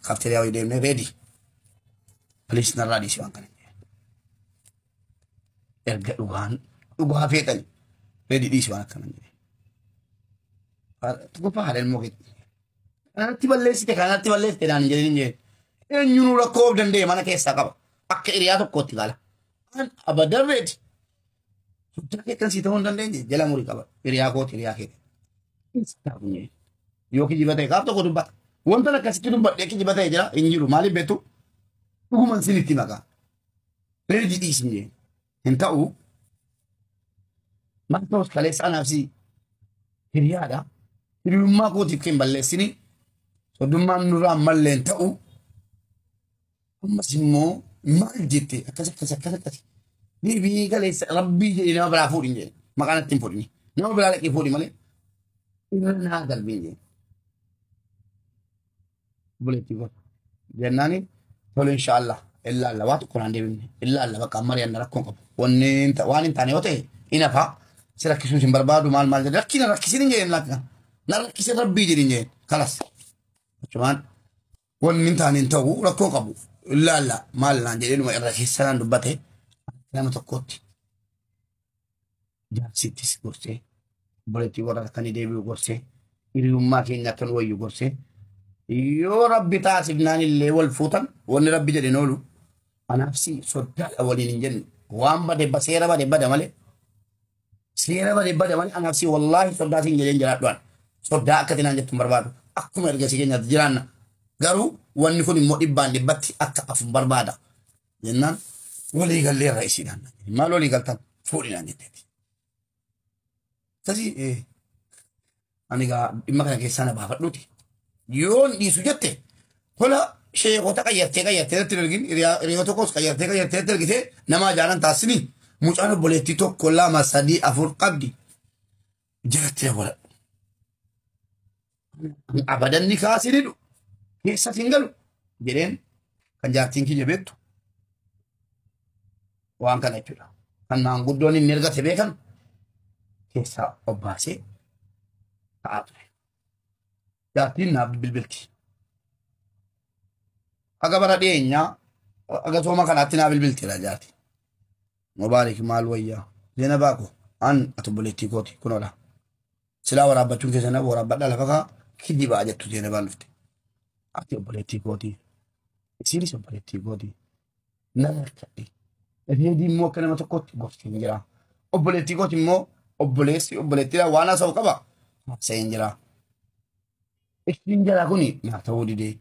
Kaafteeriyaa wayii deemnee reedi. Piliis narraa dhiisii waan kana. Erga dhugaan dhugaa feetani reedi dhiisii waan akkana. Tokkoffaa haadha ilmoo keetti. Kanatti balleessite kanatti balleessite naan hin jedhin hin jedhin. Eenyuun rakkoo of danda'e mana keessaa qaba. Akka hiriyaa tokkootti gaala. An abadan reedi. Hojjaa keettan sii ta'uu hin dandeenye jala murii qaba. Hiriyaa kooti hiriyaa keeti. Yoo kijiba ta'e gaaf tokko dubbata. Wanta akkasitti dubbadhee kijiba ta'e jira hin jiru maaliif beektu? Dhuguman sinitti maqaa. Reeji dhiisin jee. Hin ta'u. Maal ta'us kaleessa anaaf si hiriyaadha. Hiriyummaa kootiif kan balleessini. Soddummaan nurraa malleen ta'u. Ammas immoo maal jette akkas akkas akkas akkas. Deebii galeessa rabbii jedhee nama biraa fuudhin jedhe. Maqaan ittiin fuudhin. Nama biraa dhaqee fuudhi malee irra naa darbin jedhe. Buleetti kun. Jennaani tole inshaallah illaalla waa tokko naan deebifne illaalla bakka amma riyanna rakkoon qabu. Wanni hin ta- waan hin taane yoo ta'e hin hafaa si rakkisuu hin barbaadu maal maal jedhe rakkina rakkisin hin jedheen lakkina. Na rakkisin rabbii jedhin jedheen kalas. Achumaan Wanni hin taane hin ta'u rakkoo qabu. Ilaalla maal naan jedhee dhuma irra keessa naan dubbate nama tokkootti jaarsittis gorsee obboleettii warra akka ni deebi'u gorsee hiriyummaa keenya akka nu wayyu gorsee yoo rabbi taasifnaan illee wal fuutan wanni rabbi jedhe hin oolu anaaf si soddaadha waliin hin jennu waan bade ba- seera bade bada malee Seera bade bade malee anaaf si wallaahi soddaa siin jedheen jiraadhuan. Soddaa akka tinaan jettu hin barbaadu. Akkuma erga si keenyaatti jiraanna. Garuu wanni kun immoo dhibbaan dhibbatti akka afu barbaada. Jennaan walii gallee irra isiidhaan. Maal walii galtan fuudhinaan jetteeti. Akkasii ani egaa dhimma kana keessaa na baafadhuuti. Yoon dhiisu jette tola sheekota qayyartee qayyartee irratti hin ergin hiriyaa- hiriyoota koos qayyartee qayyartee irratti ergitee nama ajaanan taasisini mucaan obboleettii tokko lama sadii afur qabdi jaratti na godhadhu. Ani Abadan ni kaasii didhu keessatti hin galu jedheen kan jaartiin kiyya beektu waan kana jechuudha. Kan maanguddoon inni ergate beekan keessaa obbaasee ta'aa ture. Jaartiin naaf bilbilti. Haga bara dhiyeenyaa haga sooma kanaatti naa bilbilti dha jaarti. Mubaarik maal wayyaa? Zeena baako an ati obboleettii kooti kunoodha. Silaa waraabbachuun keessan waraabbadha lafa kaa kijibaa jettu zeena baan dhufte. Ati obboleettii kooti. Isiinis obboleettii kooti. nan harkadhe. Reedii immoo akka nama tokkootti gorsiin jira. Obboleettii kooti immoo obboleessi obboleettiidhaan waan haasa'u qaba. Haasa'een jira. Ishiin jalaa kuni naa ta'uu didee.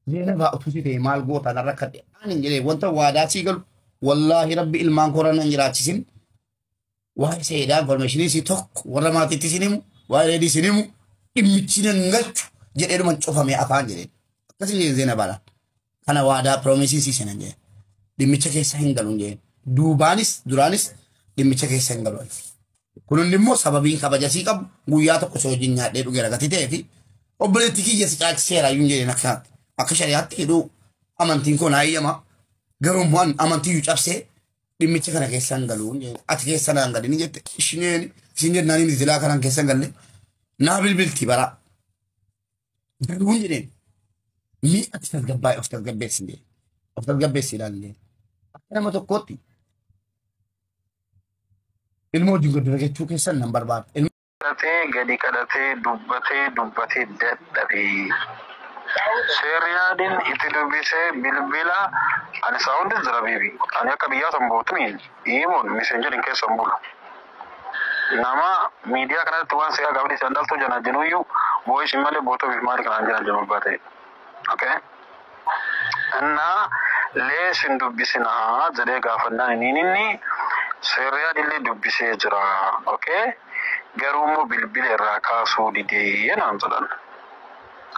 Zeenabaa utuu si ta'e maal gootaa nan rakkadhe. Ani hin jedhee wanta waadaa sii galu wallaahi rabbi ilmaan kooraan nan jiraachisin Waa'ee seedaa informationii si tokko warra maatiitti sin himu waa'ee reedii sin himu dhimmichi nan galchu jedheedhuma cufamee afaan jedheen. Akkasii jedheen zeena baala. Kana waadaa piroomiisii si senan jedheen. Dhimmicha keessa hin galuun jedheen. Duubaanis duraanis dhimmicha keessa hin galuun. Kun hundi immoo sababiin kabaja sii qabu guyyaa tokko si wajjin nyaadhee dhugee ragati ta'ee fi obboleetti kiyya si caalchiseera iyyuu jedheen akkanaatti. Akka shari'aatti hidhuu amantiin koo naa eeyyama. Garuu immoo amantii iyyuu cabsee dhimmicha kana keessaan galuun ati keessa naan galini jette ishineen isin jennaan inni silaa kanaan keessan galle naa bilbilti baraa galuun jedheen mii ati tasgabbaa'e of tasgabbeessi jedhe of tasgabbeessi ilaallee akka nama tokkootti ilmoo wajjin gaddina jechuu keessan nan barbaada. Kadhatee gadi kadhatee dubbatee dubbatee dadhabee Sir Riyadin iti dubise bilbila ani saudi jira bibi ani akka biyyaa tan butuni imon messengerin kessa hin bulu nama midiya kanarratti waan seeqa gabdhi tan dhaltuu janajinuyyu voice male botof mali kanan janajinu abbaa ta'e. okay እና lees hin dubbisina jedhee gaafannaan iniin inni seerriyaan illee dubbisee jira okay garuu immoo bilbila irraa kaasuu didee naan jedhan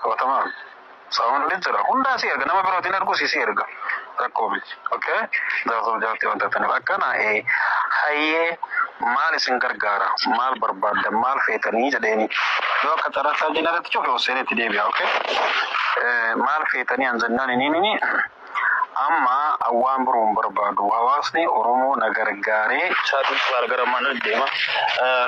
qabatamaan saawundi jira hundaa si erga nama birootiin ergu si si erga rakkoo miti. Okay jaarsaaf jaartii waan taataniif akkana ee hayyee maal isin gargaara maal barbaaddan maal feetanii jedheeni yoo akka carraasaa jeen irratti cufe Hussein itti deebi'a okay Eh, maal feetanii an jennaan iniinini amma waan biroo hin barbaadu hawaasni Oromoo na gargaaree Chaatii Baargara mana deema. Eh,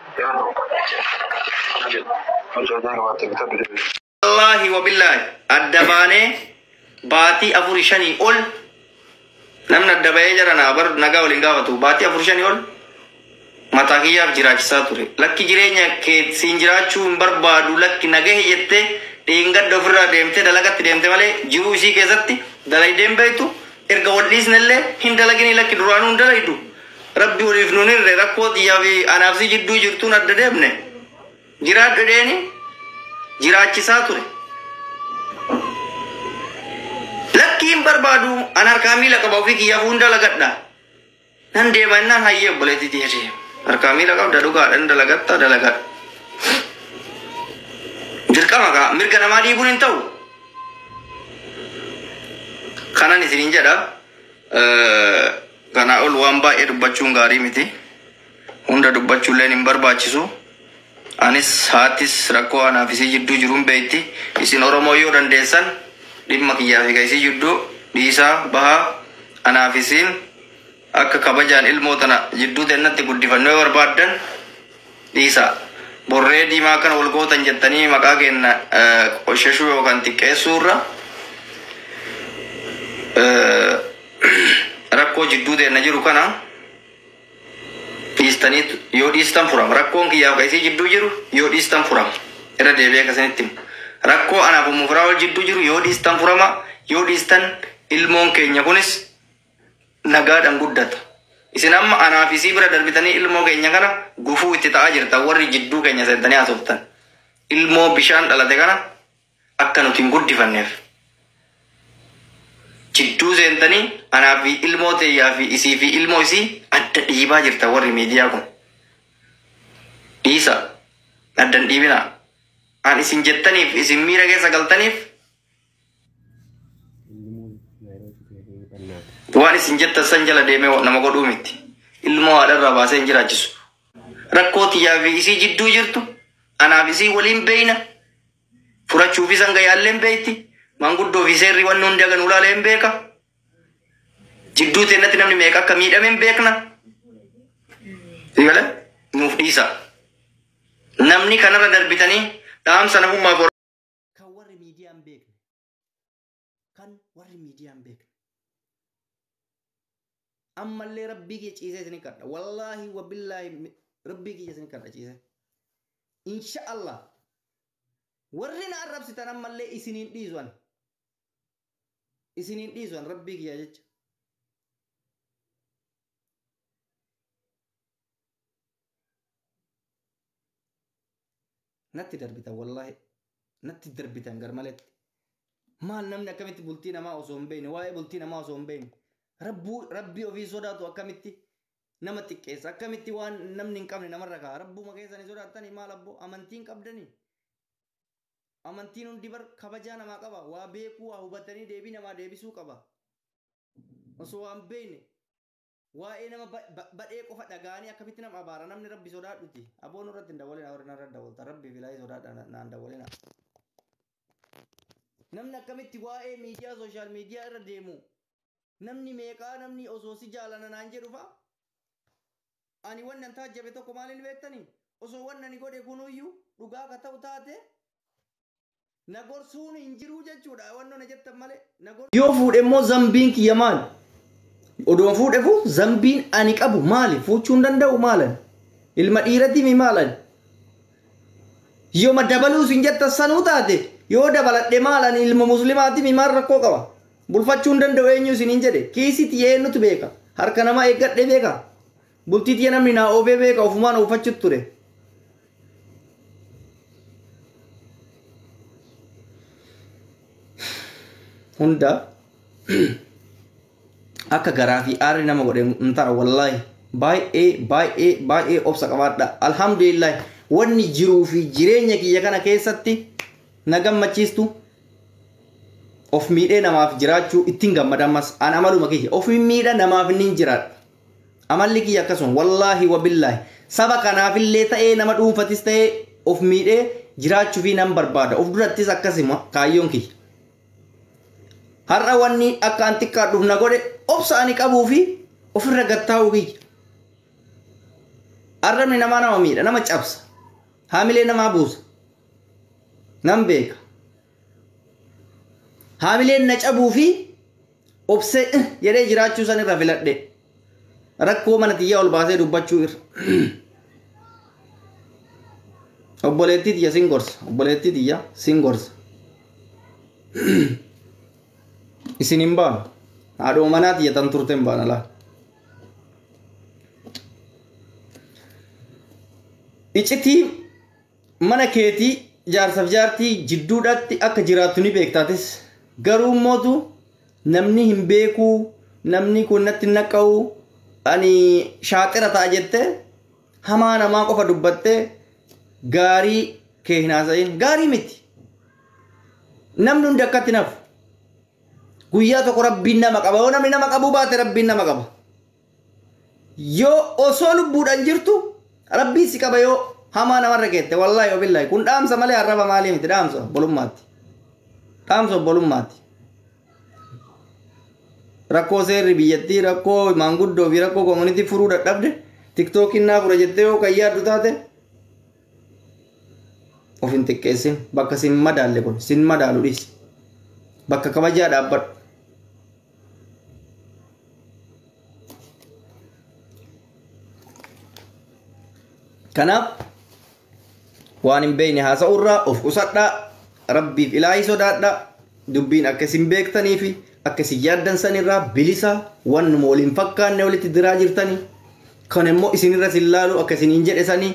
Yeroo tokko akkana jedhe, Mucaa jaarraa baattee bitaa bira bira. Wallaahi wabillaahi adda baanee baatii afuri shanii ol namni adda bahee jara naa bar nagaa waliin gaafatu baatii afuri shanii ol mataa kiyyaaf jiraachisaa ture. Lakki jireenya kee siin jiraachuu hin barbaadu lakki nagahe jettee dheengadda ofirraa deemtee dalagatti deemte malee jiruu isii keessatti dalaydeen beektu erga wal dhiisnellee hin dalaginii lakki duraanuu hin dalaydu. Rabbi waliif nun hirre rakkoo tiyyaa fi anaaf si jidduu jirtuun adda deemne jiraadhu jedheeni jiraachisaa ture. Lakkii hin barbaadu an harkaa miila qaba ofii kiyyaaf hunda lagadha. Nan deema innaan hayyee obboleetti tiyya deema. Harkaa miila qabda dhugaadha ni dalagatta dalagadhu. Dirqama kaa mirga namaa dhiibuun hin ta'u. Kanan isiniin jedha. eh, Kanaa ol waan baay'ee dubbachuun gaarii miti. Hunda dubbachuulleen hin barbaachisu. Anis haattis rakkoo anaaf isii jidduu jiru hin beekti. Isin Oromoo yoo dandeessan dhimma kiyyaa fi ka isii jidduu dhiisaa bahaa anaaf isiin akka kabajaan ilmoo tana jidduu teennatti guddifannu yoo barbaaddan Dhiisaa. Burree diimaa akkana wal gootan jettanii maqaa keenna qoshashuu yookaan xiqqeessuu irra rakkoo jidduu teenna jiru kana dhiistanii yoo dhiistan furama. Rakkoon kiyyaaf ka isii jidduu jiru yoo dhiistan furama. Irra deebi'ee ka isinitti himu. Rakkoo anaaf ummu firaa'ol jidduu jiru yoo dhiistan furama. Yoo dhiistan ilmoon keenya kunis nagaadhan guddata. Isin amma anaa fi isii bira darbitanii ilmoo keenya kana gufuu itti ta'aa jirtan warri jidduu keenya seentanii haasoftan. Ilmoo bishaan dhalate kana akka nuti hin guddifanneef jidduu seentanii anaa fi ilmoo teeyyaa fi isii fi ilmoo isii adda dhiibaa jirtan warri miidiyaa kun. Dhiisa addan dhiibinaa. An isin jettaniif isin miira keessa galtaniif Waan isin jettan san jala deemee nama godhuu miti. Ilmoo haadharraa baasee hin jiraachisu. Rakkoo tiyyaa fi isii jidduu jirtu anaaf isii waliin beeyna. Furachuu fi sanga yaalleen beeyti. Manguddoo fi seerri wanni hundi hagan ulaalee hin beeka. Jidduu teennatti namni meeqa akka miidhame hin beekna. Eegale nuuf dhiisa. Namni kanarra darbitanii dhaamsa namummaaf Kan warri miidiyaa hin beekne. Kan warri miidiyaa hin beekne. Ammallee rabbii kiyya ciisee isin kadha. Wallaahi wabillaahi rabbii kiyya isin kadha ciisee. Insha Allah. Warri na arrabsitan ammallee isiniin dhiisu ani. Isiniin dhiisu ani rabbii kiyya jecha. natti darbitan wallaahi natti darbitan garmaletti maal namni akkamitti bultii namaa osoo hin beekne waa'ee bultii namaa osoo hin beekne rabbuu rabbii ofii sodaatu akkamitti nama xiqqeessa akkamitti waan namni hin qabne namarra ka'a rabbuma keessanii sodaattanii maal abboo amantiin qabdanii amantiin hundi bar kabajaa namaa qaba waa beekuu waa hubatanii deebii namaa deebisuu qaba osoo waan beekne Waa'ee nama badhee qofa dhaga'anii akkamitti nama abaara namni rabbi sodaadhuti aboo nurratti hin dawwalinaa warri narra dawwaltan rabbii fi ilaahii sodaadha naan dawwalinaa. Namni akkamitti waa'ee miidiyaa sooshaal miidiyaa irra deemu namni meeqaa namni osoo si jaalana naan jedhu fa'a ani wanni an taajjabe tokko maaliin beektani osoo wanni ani godhe kunuyyuu dhugaa ka ta'u taate Na gorsuun hin jiruu jechuudha wanno na jettan malee. Na gor- Yoo fuudhe immoo zambiin kiyya maali? Odoon fuudhefu zambiin ani qabu maali? Fuuchuu hin danda'u maalan? Ilma dhiiratiimi maalan? Yoma dabaluus hin jettan sanuu taate yoo dabaladhe maalan ilma muslimaatiimi maal rakkoo qaba? Bulfachuu hin danda'u eenyu isin hin jedhe. Kiisii tiyya eenyutu beeka? Harka namaa eeggadhee beekaa? Bultii tiyya namni naa oofee beeka ofumaan oofachuutti ture. Hundaaf akka garaa fi aarri nama godhe hin ta'a wallaahi baay'ee baay'ee baay'ee obsa qabaadha alhamdulillah wanni jiruu fi jireenya kiyya kana keessatti na gammachiistu of miidhee namaaf jiraachuu ittiin gammada ammas an amaluma kiyya of miidha namaaf inni hin jiraadha Amalli kiyya akkasuma. Wallaahi wabillaahi. Saba kanaafillee ta'ee nama dhuunfatis ta'ee of miidhee jiraachufii nan barbaada. Of durattis akkasuma kaayyoon kiyya. Har'a wanni akka an xiqqaadhuuf na godhe obsa ani qabuu fi ofirra gattaa'uu kiyya. Arrabni namaa nama miidha, nama cabsa. Haamilee namaa buusa. Nan beeka. Haamileen na cabuu fi obsee eh jedhee jiraachuu san irra filadhe rakkoo mana tiyyaa ol baasee dubbachuu irra obboleettii tiyya sin gorsa obboleettii tiyya sin gorsa isin hin baanu haadhoo manaa tiyya tan turte hin baana laa icitii Mana keetii jaarsaf jaartii jidduudhaatti akka jiraattu ni beekta atis. Garuu mootu namni hin beekuu namni kun natti hin naqqa'u ani shaaxira ta'a jette hamaa namaa qofa dubbatte gaarii kee hin haasa'in gaarii miti. Namni hundi akkatti hin hafu. Guyyaa tokko rabbiin nama qaba yoo namni nama qabuu baate rabbiin nama qaba. yoo osoo lubbuudhaan jirtu rabbiin si qaba yoo hamaa namarra keette wallaahi obillaahi kun dhaamsa malee arraba maalii miti dhaamsa obbolummaatti dhaamsa obbolummaatti rakkoo seerri biyyattii rakkoo maanguddoo fi rakkoo koomunitii furuu dadhabde tiktookiin naa fura jettee yoo kan yaaddu taate of hin xiqqeessin bakka sin madaalle kun sin madaalu dhiisi bakka kabajaa dhaabbadhu kanaaf waan hin beekne haasa'urraa of qusadhaa rabbiif ilaahii sodaadhaa dubbiin akka isin beektanii fi akka isin yaaddan sanirraa bilisa wannuma wal hin fakkaanne walitti diraa jirtanii kan immoo isinirra sin laalu akka isin hin jedhe sanii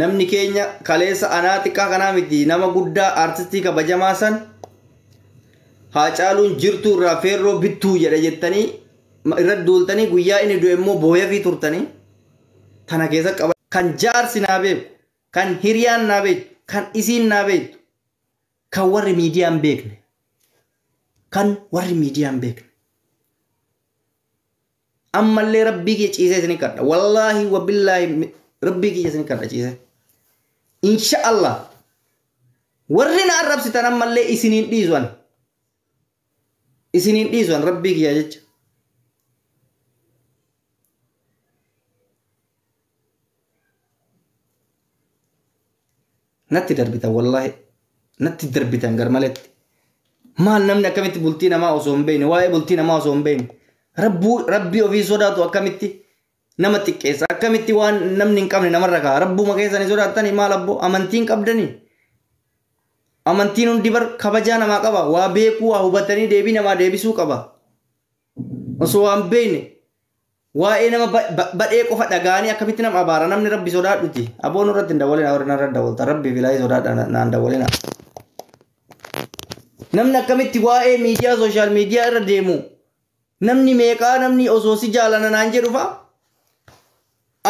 namni keenya kaleessa anaa xiqqaa kanaa miti nama guddaa aartistii kabajamaa san Haacaaluun jirtuu irraa feerroo bittuu jedha jettanii irra duultanii guyyaa inni du'e immoo booyafii turtanii tana keessa qaba. Kan jaarsi naa beeku, kan hiriyaan naa beektu, kan isiin naa beektu, kan warri miidiyaan beekne, kan warri miidiyaan beekne. ammallee rabbii kiyya ciisee isin kadha wallaahi wabillaahi rabbii kiyya isin kadha ciisee insha allah warri na arrabsitan ammallee isiniin dhiisuan isiniin dhiisuan rabbii kiyya jecha Natti darbitan wallahi natti darbitan garmaletti. Maal namni akkamitti bultii namaa osoo hin beekne waa'ee bultii namaa osoo hin beekne rabbuu rabbii ofii sodaatu akkamitti nama xiqqeessa akkamitti waan namni hin qabne namarra ka'a rabbuma keessanii sodaattanii maal abboo amantiin qabdanii amantiin hundi bar kabajaa namaa qaba waa beekuu waa hubatanii deebii namaa deebisuu qaba. Osoo waan beeyne waa'ee nama ba- ba- badhee qofa dhagaanii akkamitti nama abaara namni rabbi sodaadhuti aboon irratti hin dawwalina warri narra dawwalta rabbi bilaayee sodaadha na- naan dawwalina namni akkamitti waa'ee miidiyaa sooshaal miidiyaa irra deemu namni meeqaa namni osoo si jaalana naan jedhu fa'a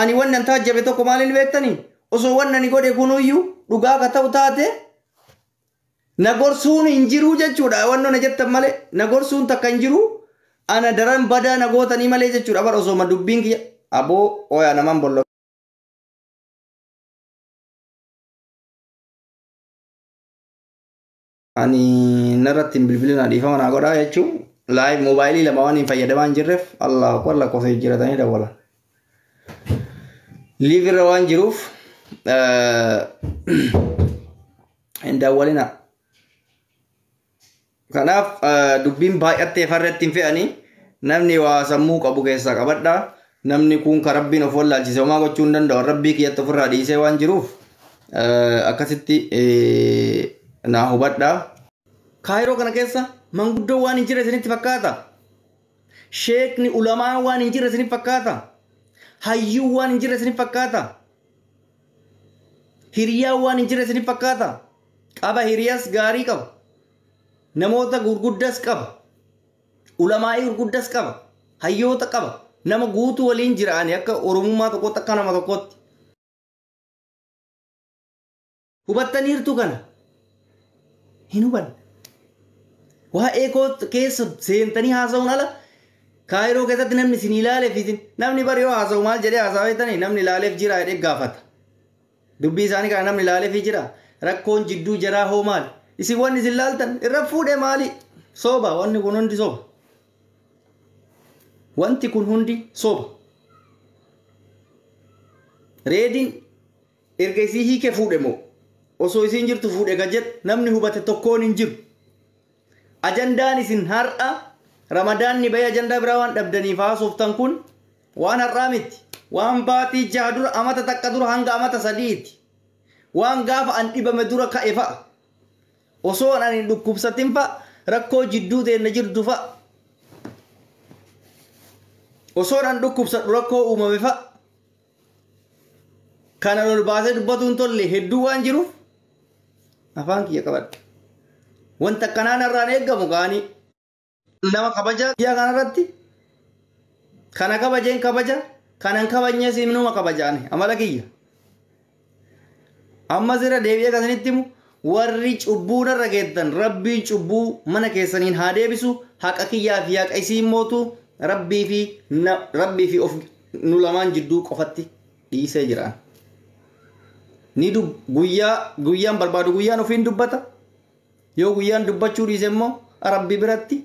ani wannan taajjabe tokko maaliin beektani osoo wannani godhe kunuyyuu dhugaa ka ta'u taate Na gorsuun hin jiruu jechuudha wanno na jettan malee na gorsuun takka hin jiruu ana daran badaa na gootanii malee jechuudha bar osooma dubbiin kiyya aboo oyaa naman bolla ani narratti hin bilbilinaa dhiifama naa godhaa jechuu live moobaayilii lama waan hin fayyadamaa hin jirreef allahu akbar lakkoofsa jijjiiratanii dawwalan live irra waan jiruuf hin daawwalina. Kanaaf dubbiin baay'attee farratti hin fe'anii namni waa sammuu qabu keessaa qabadha. Namni kun kan rabbiin of wallaalchise homaa gochuu hin danda'u. Rabbii kiyyatti ofirraa dhiisee waan jiruuf akkasitti naa hubadha. Kaayiroo kana keessa manguddoo waan hin jirre isinitti fakkaata. Sheekni ulamaan waan hin jirre isinif fakkaata? Hayyuun waan hin jirre isinif fakkaata? Hiriyaan waan hin jirre isinif fakkaata? Qaba hiriyas gaarii qaba. Namoota gurguddas qaba. Ulamaa'ii gurguddas qaba. Hayyoota qaba. Nama guutuu waliin jiraani akka oromummaa tokkootti akka nama tokkootti. Hubattaniirtu kana? Hin hubanne. Waa'ee koo keessa seentanii haasa'uun ala kaayiroo keessatti namni isin ilaaleef isin namni bari yoo haasa'u maal jedhee haasa'aa jettanii namni ilaaleef jira jedhee gaafata. Dubbii isaanii kana namni ilaaleef jira rakkoon jidduu jaraa hoo maali? Isin wanni isin laaltan irra fuudhee maali? Sooba wanni kun hundi sooba. Wanti kun hundi sooba. Reediin Erga isii hiikee fuudhe moo osoo isiin jirtu fuudhe ka jedhu namni hubate tokkoon hin jiru. Ajandaan isin har'a Ramadaanni bahee ajandaa biraa waan dhabdaniif haasoftan kun waan har'aa mitti. Waan baatii jaha dura, amata takka dura hanga amata sadi'iiti. Waan gaafa an dhibame dura ka'e fa'a. Osoo an hin dhukkubsatin fa'a rakkoo jidduu teenna jirdu fa'a. Osoon an dhukkubsadhu rakkoo uumame fa'a. Kana ol baasee dubbatuun tolle hedduu waan jiruuf afaan kiyya qabadha. Wanta akkanaa narraan eegamu kaanii nama kabaja biyya kanarratti kana kabajeen kabaja kanan kabajnees himnuma kabajaani amala kiyya. ammas irra deebi'ee kan isinitti himu warri cubbuu narra geettan rabbiin cubbuu mana keessaniin haa deebisu haqa kiyyaa fi haqa isiin mootu rabbii fi na- rabbii fi of nu lamaan jidduu qofatti dhiisee jiraan ni dub guyyaa guyyaan barbaadu guyyaan ofiin dubbata yoo guyyaan dubbachuu dhiise immoo rabbi biratti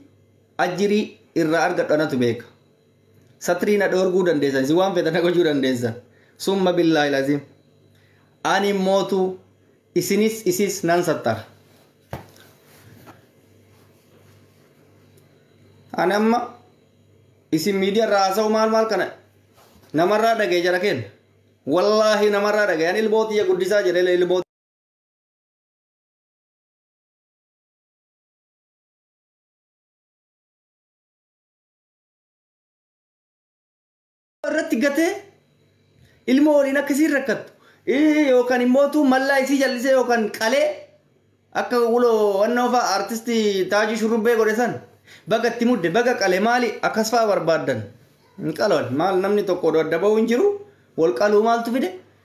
ajirii irraa argadhu anatu beeka satrii na dhoorguu dandeessan isin waan feetan na gochuu dandeessan summa billaahi laziim ani mootu isinis isis nan sattara ani amma isin miidiyaa irraa haasa'u maal maal kana namarraa dhaga'e jara kenna wallaahi namarraa dhaga'e ani ilmoo tiyya guddisaa jedhe ilmoo irratti gatee ilma waliin akkasiin rakkattu Ii, yookaan immoo tuu mallaa isii jallisee yookaan qalee akka wuloo wannoo fa'a artistii taajii shurrubbee godhe san baga itti mudde baga qale maali akkas fa'a barbaaddan hin qaloon maal namni tokko odoo adda ba'uu hin jiru wal qaluu maaltu fide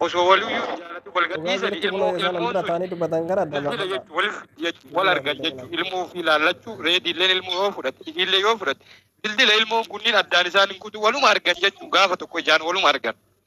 Osoo waliyyuu hin jaalatin wal Dhugaa gadhiisanii jirtu kunoo ilmoo isaan an ilmoon bira sun taa'anii dubbatan kana bilbila dabafataa. jechuu wal jechuu wal Bilbila argan bilbila. jechuu ilmoo ofii laallachuu reediilleen ilmoo yoo fudhatte isiillee yoo fudhatte dildila ilmoon kunniin addaan isaan hin kutu waluma argan jechuu gaafa tokko ijaan waluma argan